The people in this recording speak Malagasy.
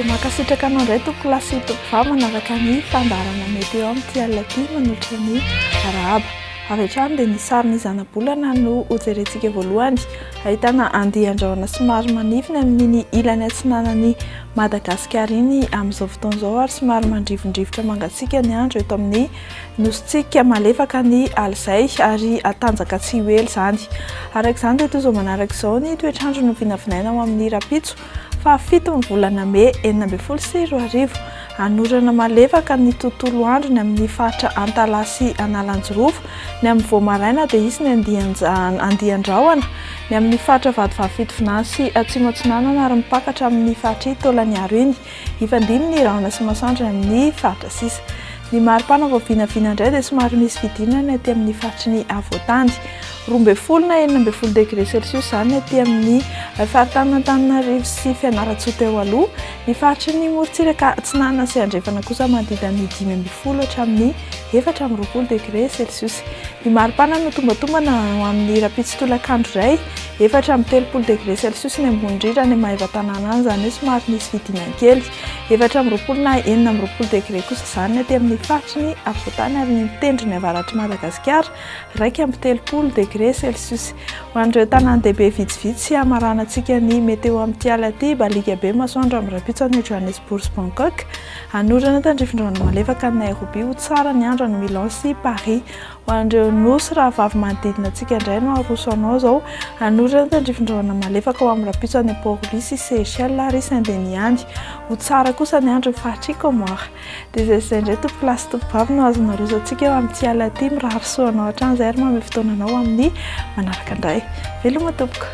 Mankasitraka anao indray Tompo lahy sy Tompo vavy manaraka ny fandaharana mety eo amin'ity alina ity manolotra ny arahaba. Avy hatrany dia ny sarin'ny zanabolana no hojerentsika voalohany. Ahitana andian-drahona somary manify ny amin'iny ilany atsinanan'i Madagasikara iny amin'izao fotoana izao ary somary mandrivondrivotra mangatsiaka ny andro eto amin'ny nosintsika malefaka ny alizay ary hatanjaka tsy ho ela izany. Araka izany dia toy izao manaraka izao ny toetr'andro novinavinaina ho amin'ny rahampitso. Fahafito ny volana mey enina ambin'ny folo sy roa arivo. Hanorana malefaka ny tontolo androny amin'ny faritra Antalaha sy Analanjirofo. Ny amin'ny vao maraina dia hisy ny andian-ja andian-drahona ny amin'ny faritra Vatovavy-Fitovinany sy Atsimo Atsinanana ary mipaka hatramin'ny faritr'i Taolagnaro iny. Hifandimby ny rahona sy masoandro ny amin'ny faritra sisa. Ny maripana vao vinavina indray dia somary misy fidirana ny aty amin'ny faritry ny afovoantany. Roa ambin'ny folo na enina ambin'ny folo degré celsius izany ny aty amin'ny faritanin'Antananarivo sy Fianarantsoa teo aloha. Ny faritry ny morontsiraka atsinanana sy andrefana kosa manodidina ny dimy ambin'ny folo hatramin'ny efatra amby roapolo degré celsius. Ny maripana no tombatombana ho amin'ny rahampitso tolakandro iray. Efatra amby telopolo degré celsius ny ambony rira any Maevatanàna any, izany hoe somary misy fidinany kely. Efatra amby roapolo na enina amby roapolo degré kosa izany ny aty amin'ny faritry ny afovoantany ary ny tendrony avaratr'i Madagasikara, iraika amby telopolo degré celsius. Ho an'ireo tanàn-dehibe vitsivitsy hamaranantsika ny météo amin'ity alina ity, baliaka be masoandro amin'ny rahampitso any Johannesburg sy Bangkok, hanorina tandrifin-drano malefaka any Nairobi, ho tsara ny andro any Milan sy Paris. Ho an'ireo Nosy rahavavy manodidina antsika indray no aroso anao izao. Hanorina ny tandrifin-drahona malefaka ho amin'ny rahampitso any Port-Louis sy Seychelles ary Saint-Denis any. Ho tsara kosa ny andro eo faritr'i Comores. Dia izay sy izay indray tompo-lahy sy tompo-vavy no azonao aroso antsika eo amin'ity alina ity. Mirary soa anao hatrany izay ary mamehy fotoana anao ho amin'ny manaraka indray. Veloma tompoko.